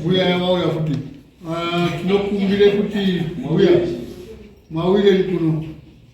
mbuya yavauya futi tinokumbire kuti mbuya mawire kuno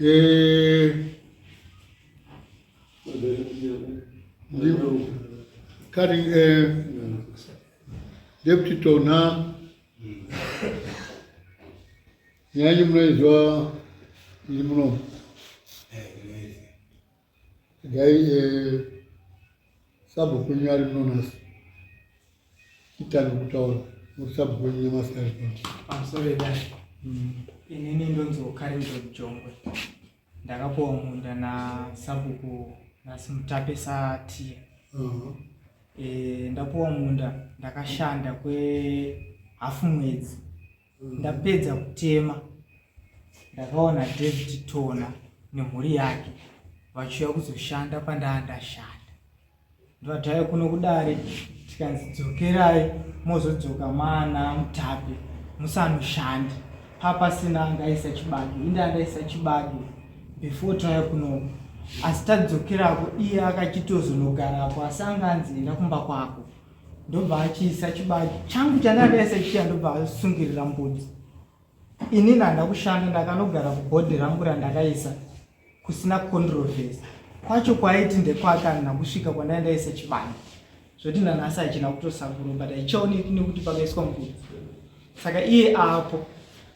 Eh, kari eh, deputy tona nyanyi munoizwa iri muno Gai eh, sabhu kwenyu ari mnonasi chitange kutaura muri sabhu kwenyu nyamasari pamsoreda mm. inini ndonziwo karindo jongwe ndakapuwa munda nasabuku nhasi mutape satiye uh-huh. eh, ndapuwa munda ndakashanda kwehafu mwedzi ndapedza kutema ndakaona david tona nemhuri yake vachiuya kuzoshanda pandaa ndashanda ndovataye kuno kudare tikanzi dzokerai mozodzoka mana mutape musanoshandi papasina angaisa chibage inde andaisa chibage before taya kunoko asi tadzokerako iye akachitozonogarapo asi anga anzi enda kumba kwako ndobva achiisa chibage changu chandakaisa chiya ndobva asungirira mbudzi ini ndanda kushanda ndakanogara kubhodhi rangu randakaisa kusina controversy kwacho kwaiti ndekwake andina kusvika kwandai ndaisa chibage zvoti nanhasi hachina kutosakuro but haichaoneki nekuti pakaiswa mbudzi saka iye apo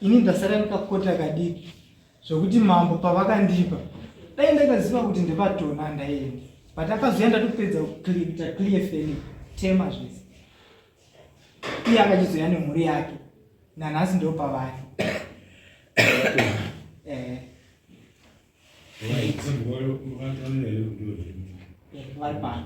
ini ndasara ndikakota kadiki zvekuti mambo pavakandipa dai ndakaziva kuti ndepatona ndaienda but akazoya ndatopedza kuita clear feli tema zvese iye akachizoya nemhuri yake nanhasi ndo pavari eh. vari pano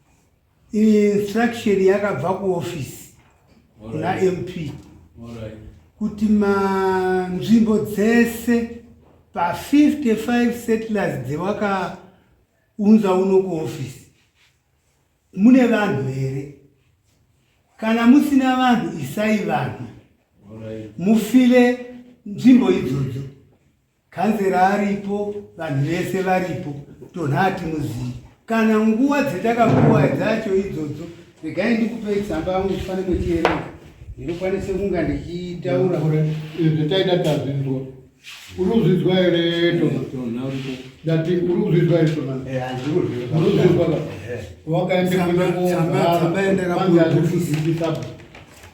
instruction yakabva kuofisi kuna mp kuti manzvimbo dzese pa55 settlers dzewakaunza uno kuofisi mune vanhu here kana musina vanhu isai vanhu mufile nzvimbo idzodzo Kanzera aripo, vanhu vese varipo, tonha hatimuzivi. Kana nguva dzatakapuwa dzacho idzodzo, regai ndikupei tsamba yangu ndifane kuchierenga ndinokwanisa kunga ndichitaura izvi taida tazvinzwa uri kuzvinzwa here ndati uri kuzvinzwa here tonaurizvinzwa wakaendeaaazvikuzivisaba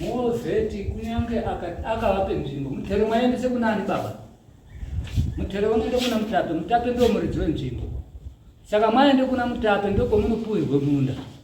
mozeti kunyange akavape nzvimbo mutero mwaendese kuna ani baba mutero unoende kuna mutape mutape ndomuridzi wenzvimbo saka mwaende kuna mutape ndokomunopuhirwe munda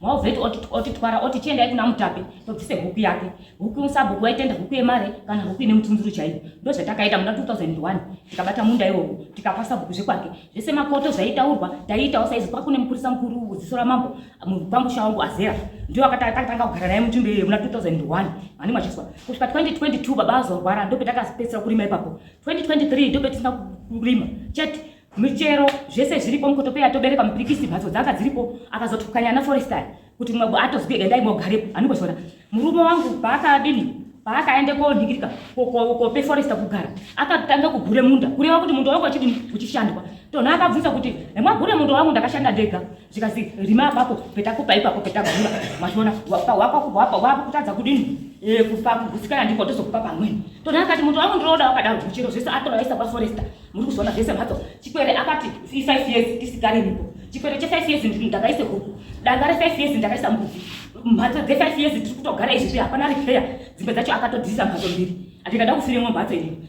Mauvheti otitwara oti tiendai kuna mutape tobvise huku yake huku musabhuku waitenda huku yemare kana huku ine mutunzuru chaiyo ndozvatakaita muna 2001 tikabata munda iwowo tikapa sabhuku zvekwake zvese makoto zvaitaurwa taiitawo saizi kwakune mupurisa mukuru ziso ramambo mupamusha wangu azera ndiwo akatanga kugara naye mutundo iyoyo muna 2001 mani machiswa kusvika 2022 baba azorwara ndopetakaspesera kurima ipapo 2023 ndopetisina kurima chete michero zvese zviripo mukotopeya tobere pamupirikisi mhatso dzanga dziripo akazotukanya ana forestai kuti mumwe atozwi endai mogarepo anongoshora murume wangu paakadini paakaenda konhingirika kope foresta kugara akatanga kugure munda kureva kuti munda wangu achidini uchishandwa tona akabvunza kuti hemwagure munda wangu ndakashanda ndega zvikanzi rima apapo petakupa ipapo petagura machiona wapa kutadza kudini e, kupa kugutsikana ndiko tozokupa pamweni tona akati munhu wangu ndinoda wakadaro kuchiro zvese atora isa paforesta muri kuzoona zvese mhatso chikwere akati ifive years tisikarimipo chikwere chefive years ndakaise huku danga refive years ndakaisa mbuzi mhatso dzefive years tiri kutogara izvizvi hapana repair dzimbe dzacho akatodzisa mhatso mbiri andikada kufiremwa mhatso inini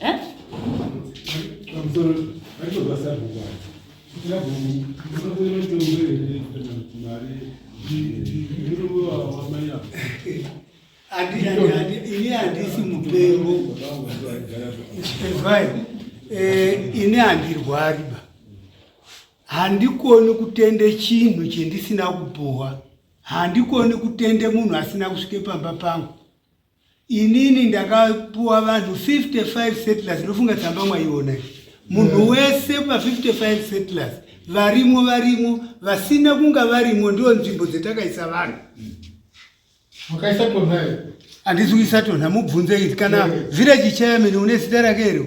Eh? I'm sorry. I don't know what's happening. ini handisi mupengo ezwai eh, ini handirwari ba handikoni kutende chinhu chendisina kupuhwa handikoni kutende munhu asina kusvike pamba pangu inini ndakapuwa vanhu 55 settlers ndofunga tsamba mwaiona munhu wese pa 55 settlers varimo varimo vasina kunga varimo ndiwo nzvimbo dzetakaisa vanhu makaisa tonhayo handisi kuisa tonha mubvunze iti kana village chairman une zita rake iro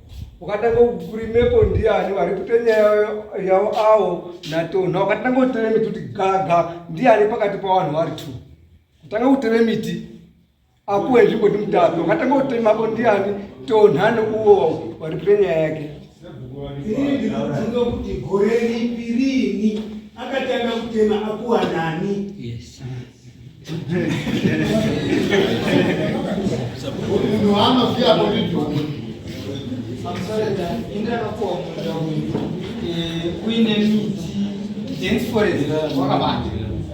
wakatanga kurimepo ndiani vari kuita nyaya yavo avo natonha wakatanga kutere miti kuti gaga ndiani pakati pavanhu vari two kutanga kutere miti akuwe nzvimbo ndi mutapi wakatanga kutemako ndiani tonha neuwo vari kuita nyaya yake ini ndinobvunza kuti gore ripi riini akatanga kutema akuwanani kuine miti dance forest wakabata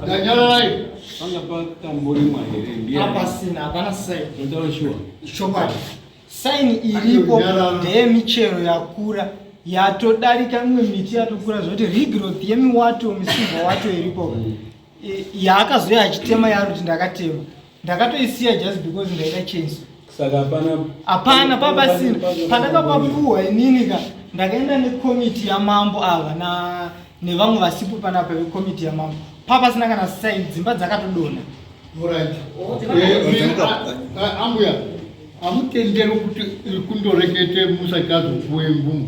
ndanyararai panga patamborimwa here ndiapasina hapana sai ndotaura shuwa chokwadi saini iripo ndeyemichero yakura yatodarika imwe miti yatokura zvoti regrowth yemiwato misimba wato iripo yaakazouya achitema yaari kuti ndakatema ndakatoisiya just because ndaida chenso saka hapana hapana papasina pandakapapuwa inini ka ndakaenda nekomiti yamambo ava na nevamwe vasipo panapa vekomiti yamambo papasina kana saini dzimba dzakatodona ambuya amutenderwe kuti kundorekete musati azopuwe mvumo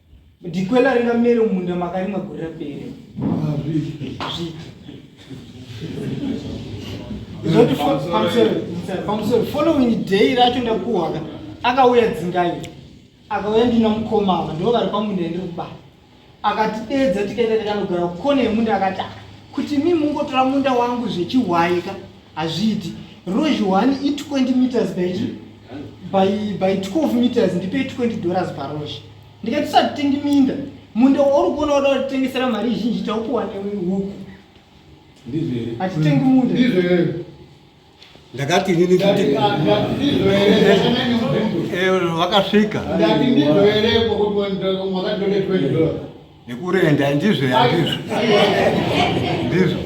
Dikwela ringa mere munda makarimwa gore rapere. Zoti pamusoro following day racho ndakuhwaka akauya dzingai akauya ndina mukoma ava ndivo vari pamunda ndiri kuba akatideedza tikaenda takanogara kukone yemunda akati kuti mi mungotora munda wangu zvechihwaika Hazviiti. Ruzhi one i 20 meters by, by, by 12 meters ndipe 20 dollars paruzhi. Ndikati tisatitengi minda. Munda wauri kuona wada kutitengesera mari zhinji taupuwa newe huku. Ndizvo here? Hatitengi munda. Ndizvo here? Ndakati nini kuti Ndati, ah, ndati, ndizvo here? Zvakanaka mubvunzo. eh, vakasvika. Ndati, ndizvo here? Kuti mwakatore 20 dollars. nekurenda ndizvo yandizvo ndizvo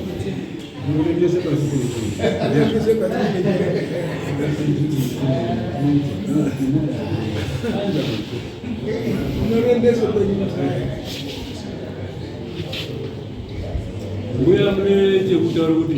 mbuya mune chekutaura kuti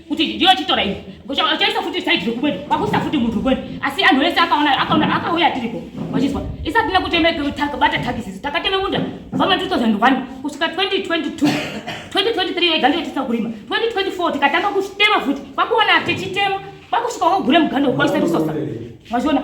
kuti ndiyo chitora iyi uchaisa futi side rekumweni kwakuisa futi munhu rukweni asi anhu ese akaona akaona akauya tiriko wachizwa isati nekuteme bata takisisi takateme munda kubva ma 2001 kusvika 2022 2023 yega ndiyo tisa kurima 2024 tikatanga kutema futi kwakuona tichitema kwakusvika wagure muganda ukwaisa risosa wazviona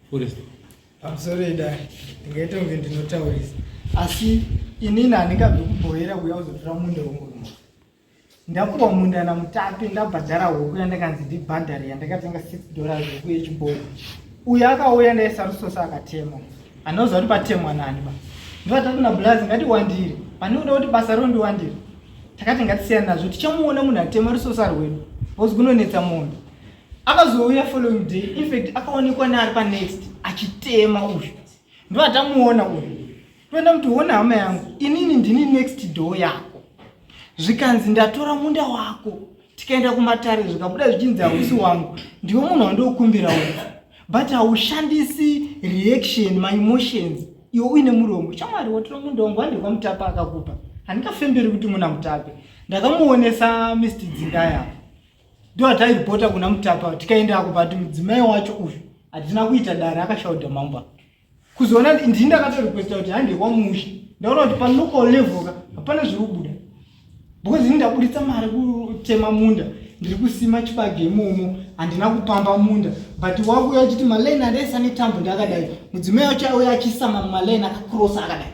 Kurisa. I'm sorry dad. Ndingaita kunge ndinotaurisa. Asi inini handingabvi kubhoera kuya uzotora munda wenguruma. Ndapuwa munda namutapi ndabhadhara huku yandakanzi ndibhadhare yandakatenga 6 dollars huku yechiboko. Uyu akauya ndaesarusosa akatemwa. Anoziva kuti patemwa nani ba. Ndivata kuna blazi ngatiwandire. Pane unoda kuti basa rino ndiwandire. Takati ngatisiyana nazvo tichamuona munhu atema rusosa rwedu. Hozi kunonetsa mondo. akazouya following day infact akaonekwa neari panext achitema uyu ndo atamuona uyu toenda kuti hona hama yangu inini ndini next door yako zvikanzi ndatora munda wako tikaenda kumatare zvikabuda zvichinzi hausi wangu ndiwe munhu wandiokumbira uyu but haushandisi reaction maemotions iwe uine muromo shamwari watora munda wangu wandikwa mutapa akakupa handikafemberi kuti muna mutape ndakamuonesa mr dzingaya ndiwo atairipota kuna mutapa tikaenda ako but mudzimai wacho uyu hatina kuita dare akashaudha mamba kuzoona ndii ndakatorequesta kuti hande kwamusha ndaona kuti panoko levoka hapana zviri kubuda because ini ndabuditsa mari kutema munda ndiri kusima chibage imomo handina kupamba munda but wakuya uchiti malaini andaisa netambo ndakadai mudzimai wacho auya achisama malaini akakrosa akadai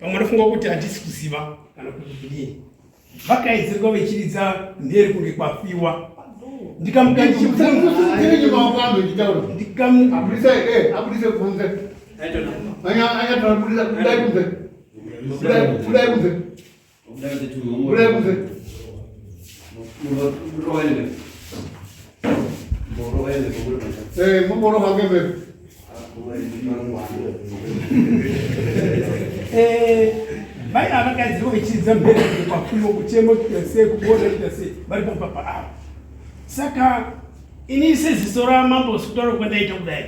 pamwe anofunga kuti handisi kuziva kana kuti kudii vakaedzerwa vechiridza mhere kunge kwafiwa ndikamuka ndichimuka mai ava kadzi vachidza mberi pafumo kuchemo kuita sei kuboda kuita sei vari papapa ava saka ini seziso ramambo sikutaura kwandaita kudai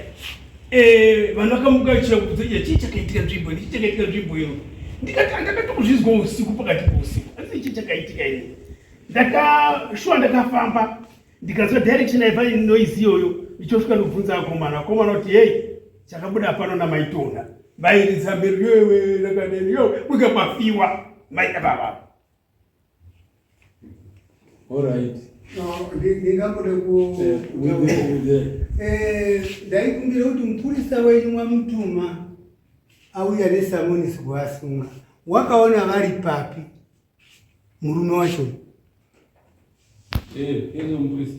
eh vanhu vakamuka vachiuya kubvunza kuti chii chakaitika nzvimbo ino chii chakaitika nzvimbo ino ndikati andakatokuzvizwa usiku pakati pousiku asi chii chakaitika ini ndakashuwa ndakafamba ndikazwa direction yaiva noise iyoyo ndichosvika ndobvunza akomana akomana kuti hei chakabuda pano namaitona vairidza mberi yoewe rakadeni yo mukapafiwa mai ababa Alright. No, ndingakuda ku eh ndaikumbira kuti mupurisa wenyu mwamutuma auya nesamonisi kuvasunga. Wakaona vari papi murume wacho? Eh, hey, hey, mupurisa.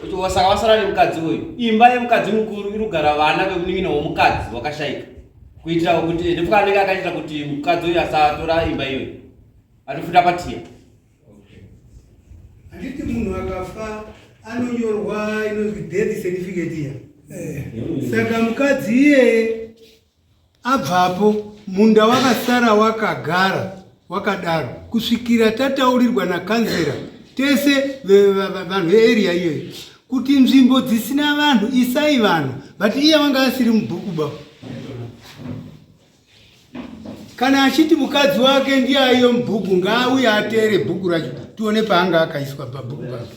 kuti wasaka wasara nemukadzi uyu imba yemukadzi mukuru irugara vana vemunin'ina womukadzi wakashaika kuitira kuti ndipfuka anenge akaitira kuti mukadzi uyu asatora imba iyoyi atofunda patiya handiti munhu akafa anonyorwa inonzi death certificate iya eh. saka mukadzi iyeye Abvapo munda wakasara wakagara wakadaro kusvikira tataurirwa nakanzera tese vanhu vearea iyoyo kuti nzvimbo dzisina vanhu isai vanhu but iye vanga asiri mubhuku ba kana achiti mukadzi wake ndiye aiyo mubhuku ngaauye ateere bhuku racho tione paanga akaiswa pabhuku pake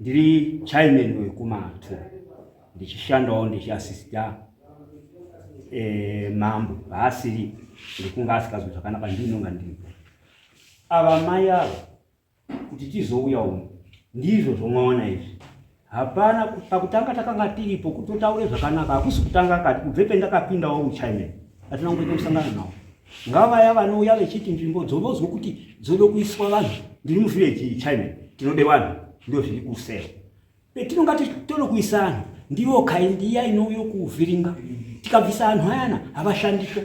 Ndiri chairman wekumato ndichishandawo ndichiasista eh, mambo paasiri ndikunga asikazwi zvakanaka ndinonga ndiripo ava mai ava kuti tizouya uno ndizvo zvomwaona izvi hapana pakutanga takanga tiripo kutotaure zvakanaka hakusi kutanga kati kubve pendakapindawo uchairman atina kungoita musangano nawo ngavaya vanouya vechiti nzvimbo dzonozwa kuti dzoda kuiswa vanhu ndiri muvhileji iyi china tinode vanhu ndo zviri kusel petinonga titoda kuisa vanhu ndivo kaindi iya inouyo kuvhiringa tikabvisa vanhu ayana havashandiswe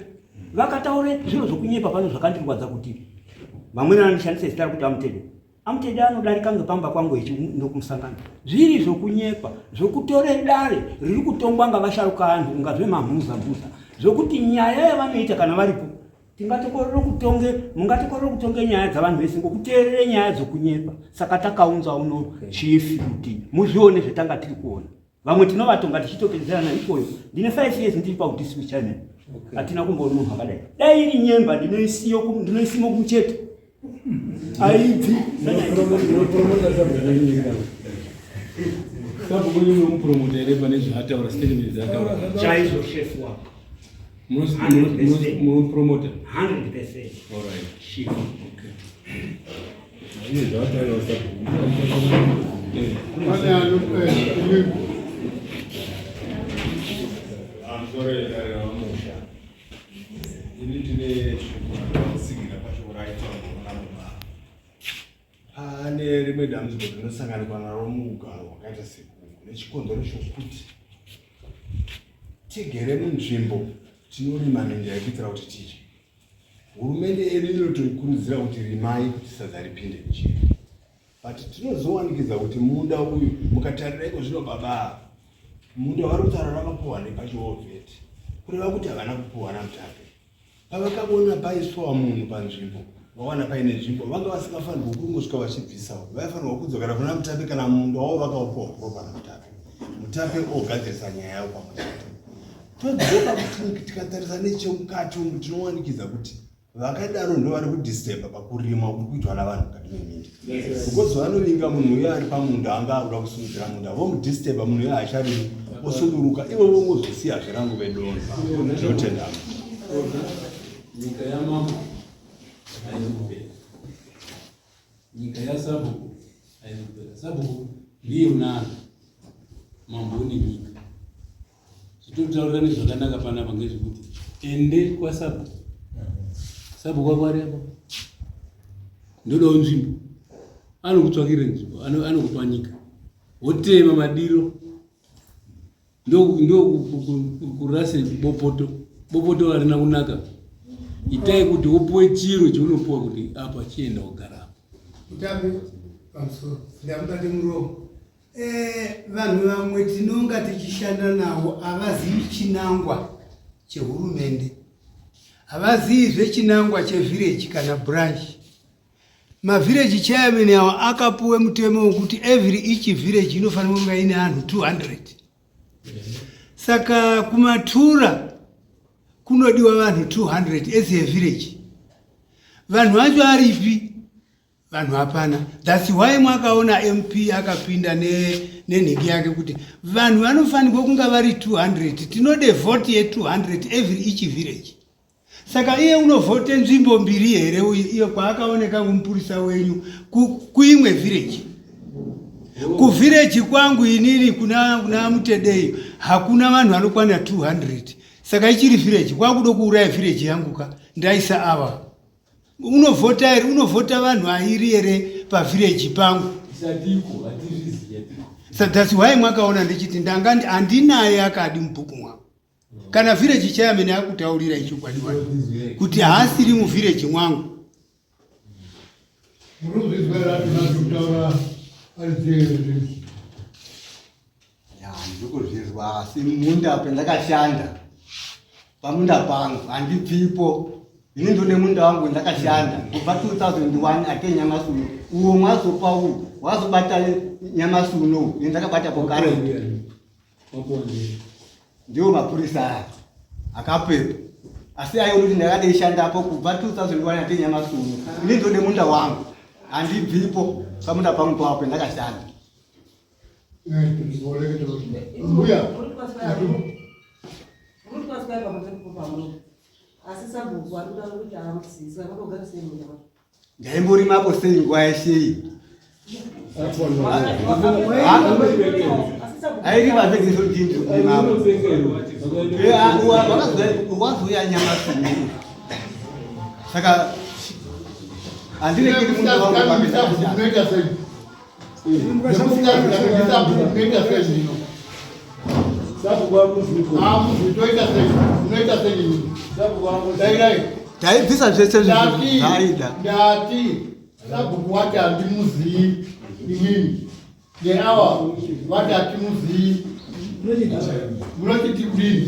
vakataure zviro zvokunyepa pano zvakandirwadza kuti vamweni vanoshandisa zita rekuti amutede Amtedi anodarika ngepamba kwangu ichi ndokumusangano zviri zvokunyepa zvokutore dare riri kutongwa ngavasharuka anhu unga zvemamhuza mhuza zvokuti nyaya yavanoita kana varipo tingatokorere kutonge mungatokorere kutonge nyaya dzavanhu vese ngokuteerere nyaya dzokunyepa saka takaunza uno chief kuti muzvione zvetanga tiri kuona vamwe tinovatonga tichitopedzerana ikoyo ndine five years ndiri paudisi kuchina hatina kumboona munhu akadai dai iri nyemba ndinoisimo kumucheto aibvi kabukunyunomupromota here pane zvaataura statement dzaataura chaizvo shefu wako munopromota 100 percent all right okay. Pane rimwe dambudziko rinosanganikwa naro mugaro wakaita sekuku nechikonzero chokuti tigere munzvimbo tinorima minda yekuitira kuti tidye Hurumende yedu inotoikurudzira kuti rimai kuti sadza ripinde mujeri, but tinozowanikidza kuti munda uyu mukatarira iko zvino babaa munda wari kutaura vakapuhwa nepachiovheti kureva kuti havana kupuhwa namutape pavakaona paiswa munhu panzvimbo vawana paine nzvimbo vanga vasingafanirwa kungosvika vachibvisawo vaifanirwa kudzokera kuna mutape kana munda wavo vakaupuhwa kuropa namutape mutape ogadzirisa nyaya yavo pamwe chete Todzoka kuti tikatarisa nechemukati umu tinowanikidza kuti vakadaro ndo vari kudisturba pakurima kuri kuitwa navanhu mukati meminda because vanovinga munhu uye ari pamunda anga akuda kusimudzira munda vomudisturba munhu uye haacharimi osunduruka ivo vongozosiya zvirangu vedona zvinotendama nyika yamambo haizokupera nyika yasabhuku haizokupera sabhuku ndiye unana mambo une nyika zvitotaurirane zvakanaka panapa ngezvekuti ende kwasabu sabu kwakwarepo ndodawo nzvimbo anokutsvakire nzvimbo anokupa nyika wotema madiro ndokurase bopoto bopoto arina kunaka itai kuti wopuwe chiro chaunopuwa kuti apa chienda wogara apo Eh, vanhu vamwe tinonga tichishanda navo havazivi chinangwa chehurumende havazivi zvechinangwa chevhireji kana branchi mavhireji chairman awo akapuwe mutemo wekuti every each vhireji inofanira kunga ine anhu 200 saka kumatura kunodiwa vanhu 200 as a vhireji vanhu vacho aripi vanhu hapana thats why mwakaona mp akapinda nenhingi ne yake kuti vanhu vanofanirwa kunga vari 200 tinode vhoti ye200 every each village saka iye unovhote nzvimbo mbiri here uyu iyo kwaakaoneka kumupurisa wenyu kuimwe ku village kuvhireji kwangu inini kuna, kuna mutedeyo hakuna vanhu vanokwana 200 saka ichiri vhireji kwakuda kuuraya vhireji yangu ka ndaisa ava unovhota here unovhota vanhu airi here pavhireji pangu thats why mwakaona ndichiti ndanga handinaye akadi mubhuku mwangu kana vhireji chayamene akutaurira ichokwadi wa kuti haasiri muvhireji mwangu Muruzi zwe rati na zutaura ari zwe ndikuzvizwa asi munda pendakashanda pamunda pangu handibvipo ini ndone munda wangu ndakashanda kubva 2001 ake nyamasi uno uwo mwazopa uwu wazobata nyamasi uno ini ndakabata pokare ndiwo mapurisa aya akapepa asi aiona kuti ndakadeishandapo kubva 2001 ake nyamasi uno ini ndone munda wangu handibvipo pamunda pangu pawapo ndakashanda ndaimborimapo sei nguva yeshei airivavegesoindiuwazoya nyama suu saka andirekeri munhu taibvisa zvese zvaida ndati sabhuku wati handimuzivi imini neawa vati hatimuzivi munotiti kudini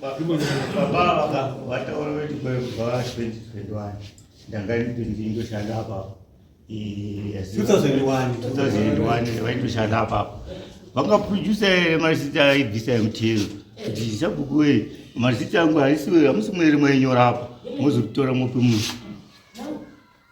Baba vaka vataura kuti kwa kubva 2021 ndanga ndindoshanda apa 2001 vaindoshanda apa vanga producer ere mazita aibvisa mtl kuti sabhuku wee mazita angu haisi hamusi mwere mwainyora apa mozokutora mope munhu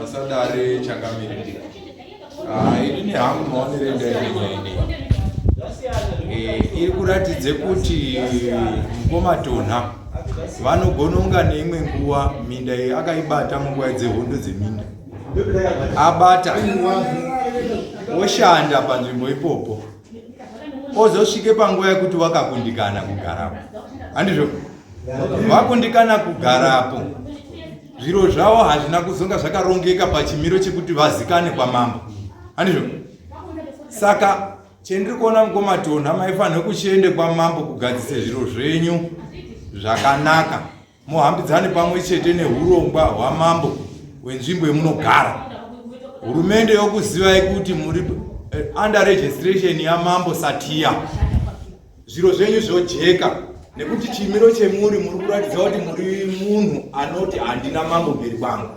Masadare changamire. Ah, ini ni hangu maonere ndainene. Eh, iri kuratidze kuti mkoma Tonha vanogononga neimwe nguwa minda iyi akaibata munguva dzehondo dzeminda. Abata oshanda panzvimbo ipopo. Ozosvike panguva yekuti wakakundikana kugarapo. Handizvo? Vakundikana kugarapo. zviro zvavo hazvina kuzonga zvakarongeka pachimiro chekuti vazikane kwamambo handizvo saka chendiri kuona mukomatonha maifanira kuchiende kwamambo kugadzise zviro zvenyu zvakanaka muhambidzane pamwe chete neurongwa hwamambo wenzvimbo yemunogara hurumende yokuzivai kuti muri eh, under registration yamambo satiya zviro zvenyu zvojeka nekuti chimiro chemuri muri kuratidza kuti muri munhu anoti handina mambo mberi kwangu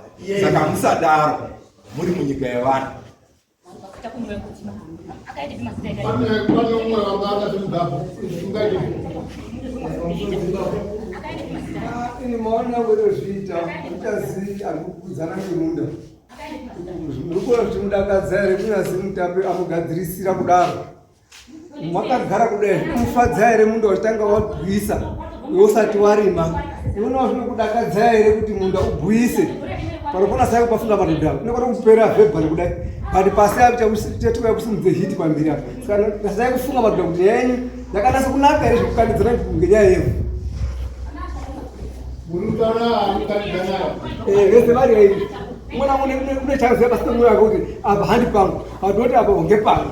saka musadaro muri munyika yevanhu ini maona werozviita utazi arikukudzana nemunda ndikona kuti mudakadza here kunyazi mutape amugadzirisira kudaro Makagara kudai zvinomufadza here munda wachitanga wagwisa usati warima? Unoona zvinokudakadza here kuti munda ugwise? Panofona sai pafunga madhodha unokona kupera vhebhari kudai but pasi achakuchatuka kusimudze hiti pambiri apo saka sai kufunga madhodha kuti nyaya yenyu yakanasa kunaka here zvekukandidzana ngenyaya yevhu vese vari aivi umwe namwe une chanzi yapasina mwoyo wake kuti apa handi pangu padoti apa honge pangu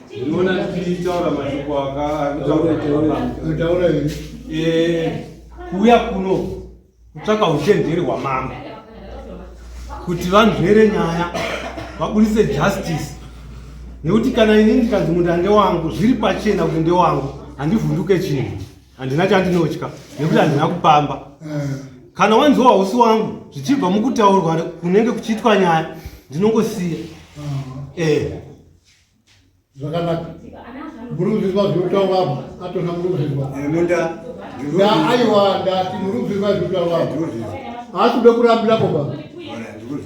Unoona tichitaura mashoko akataura here? Eh, kuuya kuno kutsvaka uchenjeri hwamambo kuti vanzvere nyaya vabudise justice nekuti kana ini ndikanzi munda ndewangu zviri pachena kuti ndewangu handivhunduke chinhu handina chandinotya nekuti handina kupamba eh. kana wanzi wausi wangu zvichibva mukutaurwa kunenge kuchiitwa nyaya ndinongosiya eh. zvakanaka murubviswa zvirikutaura apa atona murubviswa aiwa ndati murubviswa zvirikutaura apa haasi kuda kurambira koba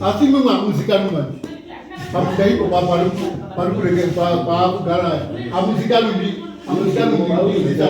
asi imwe mwamuzikanwi manje pamuda iko pari kurekea paakugara amuzikanwi ndi amuzikanwi ndiiaa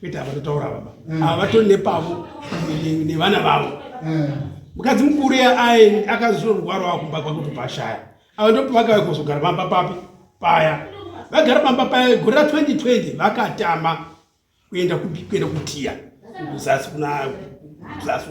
kwete havatotaura baba mm. ava vatori nepavo nevana vavo mm. mukadzi mukuru yaae akazuro rugwaro wavo kumba kwakuti pashaya ava ndopavakava kuzogara pamba papi paya vagara pamba paya gore ra 2020 vakatama kuenda kuenda kutiya kuzasi kuna zasi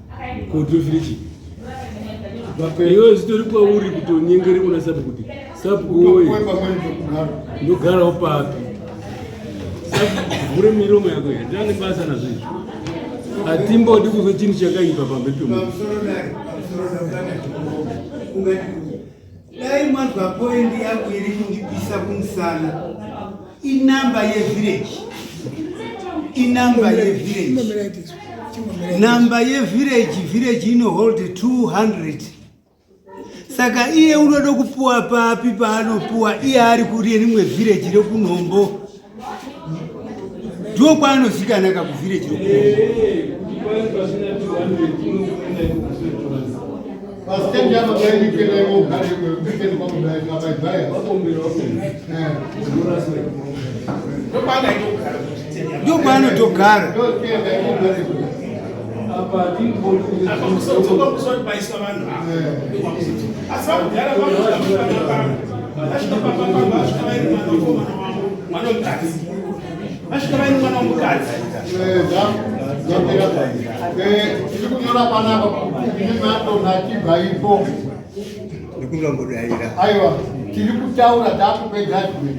kudhuvhirichi iwe zvitori kwauri kutonyengere kuna sapu kuti sapu woye ndogarawo papi vhure miromo yako here ndane basa nazvo izvi hatimbodi kuzwe chinhu chakaipa pamberi pemunhu Dai mwanzwa point yangu iri kundipisa kumusana. Inamba yevillage. Inamba yevillage. Namba yevillage village ino hold 200. Saka iye unoda kupuwa papi paanopuwa iye ari kuri rimwe village rekunhombo. ndiwo kwaanozikana ka kuvhireji ndopaanotogara tikunyora panapa imatonakibaipo ndikunombodaira aiwa tiri kutaura takupedza zvimwe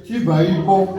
chibva ipo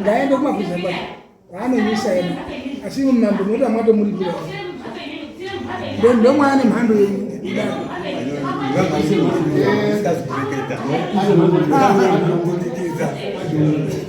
ngaende kumaguza kwake kwaanonyisa yena asi mambo moto amwato muri kira ndomwe ane mhando yenyu Thank you.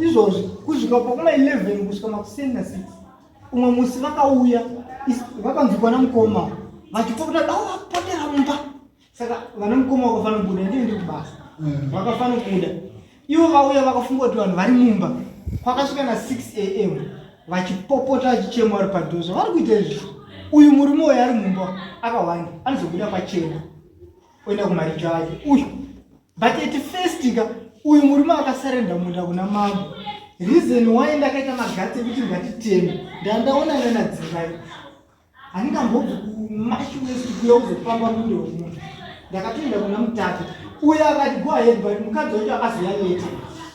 izvozvi kusvika pakuma 11 kusvika makuseni na 6 umwe musi vakauya vakanzwikwa namukoma vachipopota dao vapotera mumba saka vana mukoma vakafanira kubuda ndii ndiri kubasa mm. vakafanira kuda ivo vauya vakafunga kuti vanhu vari mumba kwakasvika na 6 am vachipopota vachichema vari padhozo vari kuita izvi uyu murume uyo ari mumba akawanda anozobuda pachena oenda kumaricho ake uyu but at first ka uyu murume akasarenda munda kuna mambo reason why ndakaita magatsi ekuti ngatiteme ndandaona nana dzimbai handingambobvi kumashi west kuya kuzopamba mundo wemunhu ndakatoenda kuna mutatu uyo akati go ahead but mukadzi wacho akazoyaneta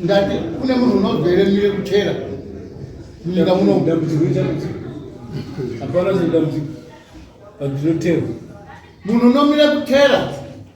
ndati kune munhu unobvere mire kuchera munyika muno hapana zvedambudziko pazvinotewa munhu unomira kutera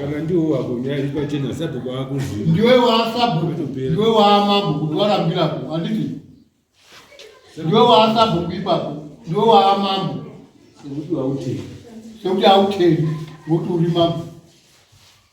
kana ndiwo wako nyaya iri pachena sabhuku akuziva ndiwe waasabhuku ndiwe waamabhuku ndiwarambirako handiti ndiwe waasabhuku ipapo ndiwe waamambo sekuti hautendi ngokuti uri mambo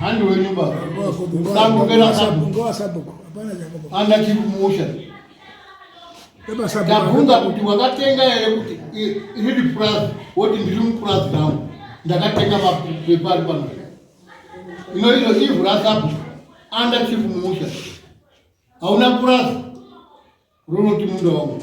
Handi wenyu baba. Sambo kera sambo. Ngowa sambo. Hapana jambo. Anda kimusha. Baba sambo. Ndabvunza kuti wakatenga here kuti riri purazi woti ndiri mupurazi rangu ndakatenga mapepa ari pano. Ino iro ivhu rasambo. Anda kimusha. Hauna purazi. Ronoti munda wangu.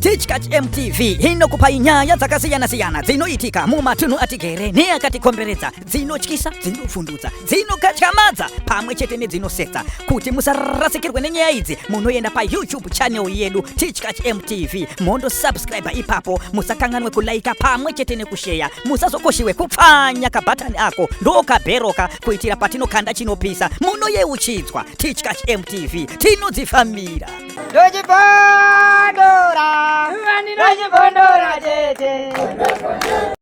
Tichkach MTV inokupa nyaya dzakasiyana-siyana dzinoitika mumatunhu atigere neakatikomberedza dzinotyisa, dzinofundudza dzinokatyamadza pamwe chete nedzinosetsa kuti musarasikirwe nenyaya idzi munoenda payoutube channel yedu tichkach mtv mondo subscribe ipapo musakanganwe kulaika pamwe chete nekusheya musazokoshiwe kupfanya kabhatani ako ndokabheroka kuitira patinokanda chinopisa munoyeuchidzwa tichkach mtv tinodzifambira ndochipondora ndochipondora tete